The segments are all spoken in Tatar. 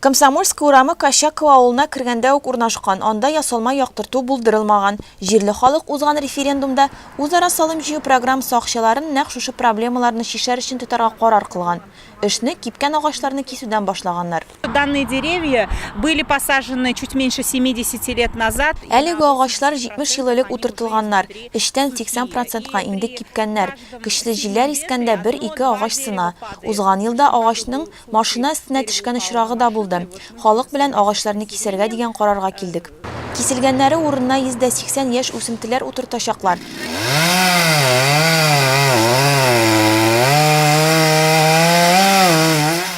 Комсомольск урамы Кощаково авылына кергәндә үк урнашкан, анда ясалма яктырту булдырылмаган. Җирле халык узган референдумда үзара салым җыю программасы акчаларын нәкъ шушы проблемаларны чишәр өчен тотарга карар кылган. Эшне кипкән агачларны кисүдән башлаганнар. Данные деревья были посажены чуть меньше семидесяти лет назад. Әлеге агачлар 70 ел элек утыртылганнар, эчтән 80 процентка инде кипкәннәр. Көчле җилләр искәндә бер-ике агач сына. Узган елда агачның. Машина өстенә төшкән очрагы да булды. Халык белән агачларны кисәргә дигән карарга килдек. Киселгәннәре урынына 180 яшь үсентеләр утыртачаклар.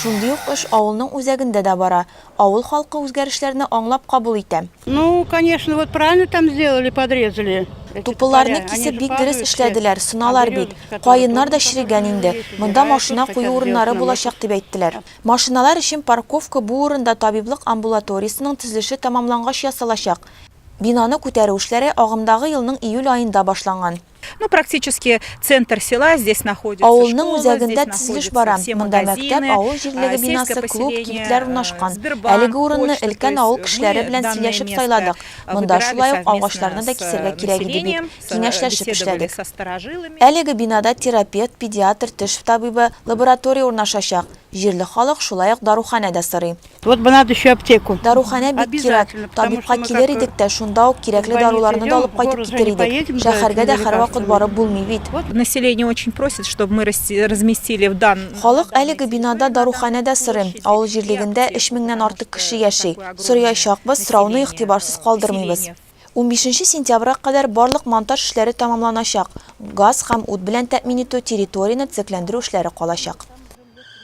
Шундый ук эш авылның үзәгендә дә бара. Авыл халкы үзгәрешләрне аңлап кабул итә. Ну, конечно, вот правильно там сделали, подрезали эти тополя. Тупыларны кисеп бик дөрес эшләделәр, сыналар бит. Каеннар да черегән инде. Монда машина кую урыннары булачак дип әйттеләр. Машиналар өчен парковка бу урында табиблык амбулаториясенең төзелеше тәмамлангач ясалачак. Бинаны күтәрү эшләре агымдагы елның июль аенда башланган. Ну, практически центр села здесь находится. Авылның үзәгендә төзелеш бара. Монда мәктәп, авыл җирлеге бинасы, клуб, кибетләр урнашкан. Әлеге урынны өлкән авыл кешеләре белән сөйләшеп сайладык. Монда шулай ук агачларны да кисәргә кирәк иде бит. Киңәшләшеп эшләдек. Әлеге бинада терапевт, педиатр, теш табибы, лаборатория урнашачак. Җирле халык шулай ук даруханә дә сорый. Вот бы надо еще аптеку. Даруханә бик кирәк. Табибка килер идек тә, шунда ук кирәкле даруларны да алып кайтып китер идек. Шәһәргә дә һәрвакыт барып булмый бит. Население очень просит, чтобы мы разместили в дан. Халык әлеге бинада даруханә дә сорый. Авыл җирлегендә 3 меңнән артык кеше яши. Сораячакбыз, сорауны игътибарсыз калдырмыйбыз. Унбишенче сентябрьгә кадәр барлык монтаж эшләре тәмамланачак. Газ һәм ут белән тәэмин итү, территорияне төзекләндерү эшләре калачак.